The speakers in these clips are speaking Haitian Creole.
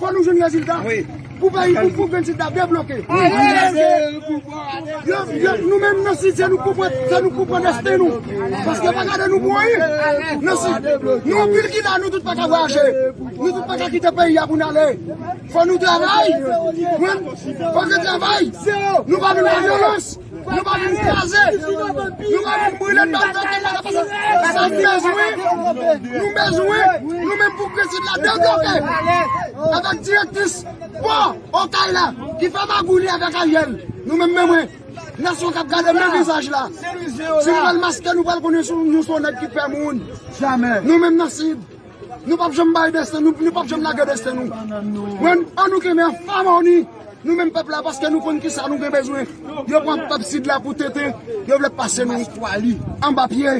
Fò nou jwenn rezilta pou peyi pou pou grenn sid la debloke. Nou menm nan sid se nou pou pran desten nou. Paske pa gade nou mouri nan sid. Nou anpil ki la nou tout pa ka vwaje. Nou tout pa ka kite peyi ya pou nale. Fò nou travay. Fò nou travay. Nou pa vin nan vyolans. Nou pa vin kraze, nou pa vin brile bèl bèl ke mwen ap fè. Sa n bezwen, nou bezwen, nou menm pou prensip la debloke. Avèk direktris pò Okay la ki fè magouy li avèk Ariel. Nou menm men mwen, nasyon k ap gade menm vizaj la. Si nou pral maske nou pral konnen nou se yon nèg ki pè moun. Nou menm nan sid. Nou pap janm bay desten nou, nou pap janm lage desten nou. Mwen, an nou kenbe an famoni, nou menm pèp la, paske nou konn ki sa nou gen bezwen. Yo pran pèp sid la pou tete, yo vle pase nou an ba pye.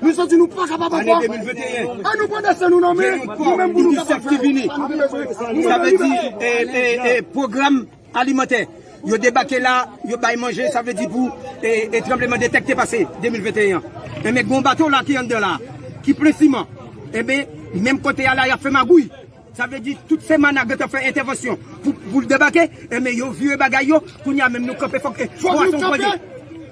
Nou santi nou pa kapab ankò. An nou pran desten nou nan men, nou menm pou nou kapab fè sa nou gen bezwen. Sa vle di, e, e, e, pwogram. Alimantè. Yo debake la, yo bay manje, sa vle di pou e tranbleman de tè k te pase 2021 an. Enben gen yon bato la ki anndan la a, ki plen siman. Enben, menm kote a la y ap fè magouy. Sa vle di tout Semana gentan fè entèvansyon pou l debake, enben yo vire bagay yo, kounye a menm nou kanpe fòk e pwason pwase.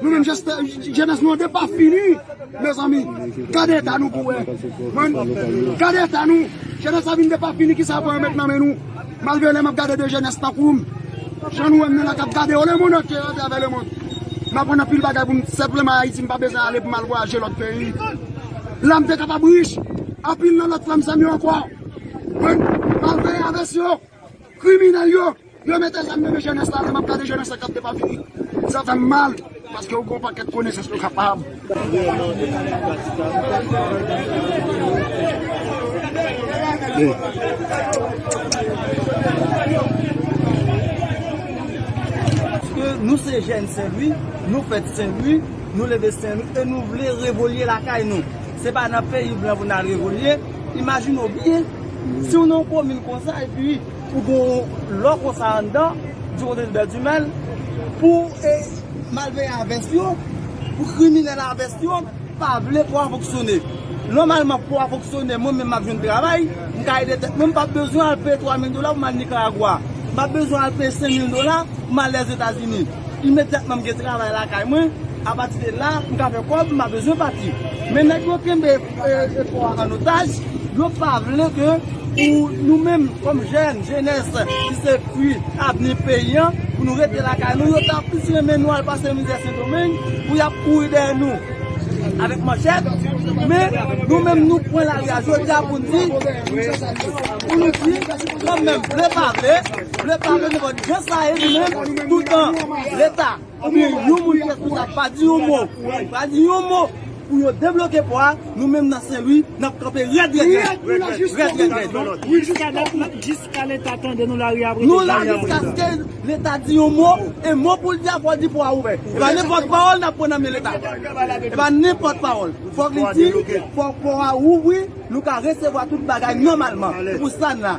Nou menm jeste jenès nou an te pa fini mezanmi gade eta nou pou wè mwen gade eta nou jenès la vin te pa fini kisa pou yo met nan men nou malgre lè map gade de jenès tankoum jan nou wèm nan la kap gade yo le mond antye a travè le mond maprann anpil bagay pou m senpleman ayiti m pa bezwen ale pou m al vwayaje lòt peyi la m te kapab rich anpil nan lòt frè m sè m yo ankò mwen malveye avès yo kriminèl yo. Yo mete zam nan men jenès la lè map gade jenès la kap depafini sa fèm mal paske ou gen yon pakèt konesans nou kapab Paske nou se jèn senlwi, nou fèt senlwi, nou leve senlwi e nou vle revolye lakay nou. Se pa nan peyi blan pou n al revolye, imajine w byen, si w nan yon komin konsa epi. Pou gon lò konsa anndan Duconte Tribert Dumel pou malveyan a vès yo, pou kriminèl a vès yo pa vle pou a fonksyone. Nòmalman pou a fonksyone mwen menm m ap jwenn travay, m ka ede tèt mwen, m pap bezwen al peye 3 mil dola pou m al Nikaragwa, m pap bezwen al peye 5 mil dola pou m al Lèzetazini. Imedyatman m gen travay lakay mwen, apatide la m ka fè kòb m pa bezwen pati. Men nèg yo kenbe. Epo a an otaj, yo pa vle ke pou nou menm kom jèn, jenès ki se fwi avni peyi an, pou nou rete lakay nou, yo ta plis renmen nou al pase mizè Sendomeng, pou y ap kouri dèyè nou avèk manchèt, men nou menm nou pran lari a jodi a pou n di, pou nou di, kan menm, vle pa vle, vle pa vle nou konn jan sa ye nou menm, toutan leta. Oubyen yon moun kèk kou sa pa di yon mo, pa di yon mo pou yo debloke pò a, nou menm nan Senlwi n ap kanpe rèd rèd rèd, rèd rèd rèd. Jiska leta tande nou lari ap rete. Nou la jiskaske leta di yon mo, e mo pou l di a fò l di pò a ouvè. E pa nenpòt pawòl n ap pran nan men leta. E pa nenpòt pawòl. Fò k li di, fò pò a ouvri, nou ka resevwa tout bagay nòmalman. Se pou sa n la.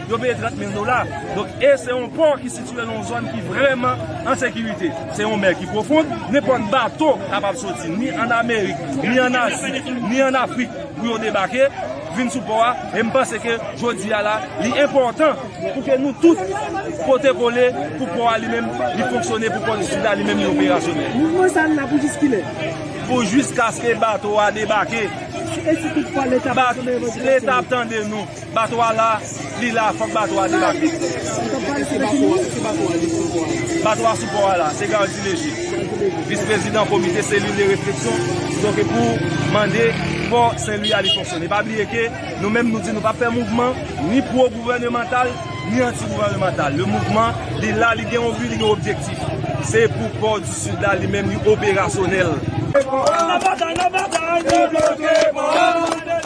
Yo peye 30 mil dola. Donk e se yon pò ki sitye nan yon zòn ki vrèman an sekirite. Se yon mè ki pwofon. Nenpòt bato kapab soti ni an Amerik, ni an Azi, ni an Afrik pou yo debake, vin sou pò a. E m panse ke jodi a la, li enpòtan pou ke nou tout pote kole pou pò a li menm li fonksyone pou kont sila li menm li operasyonèl. Mouvman sa la pou jiskilè? Pou jiskaske bato a debake. E si tout fwa leta pa tande revan di la? Leta ap tande nou. Bato a la, li la fòk bato a debake. Bato a sou pò a la, se Gardy Leger, vis prezidan komite selil de refleksyon donk pou mande pò Senlwi a li fonksyone. Pa bliye ke nou menm nou di nou pap fè mouvman ni pwo gouvènemantal ni anti gouvènemantal. Le mouvman li la, li gen yon bi, li gen yon objektif. Se pou pò di Sid la li menm li operasyonèl. Nan batay, nan batay, nou bloke pò a.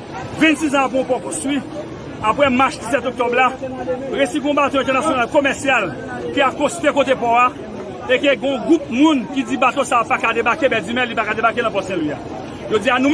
26 zan apre w poko swi, apre mach 17 oktòb la, resi gon bato entènasyonal komèsyal ki akoste kote pò a e ke gon gwoup moun ki di bato sa a pa ka debake Bèdimè, li pa ka debake nan pò Senlwi a. Yo di a nou.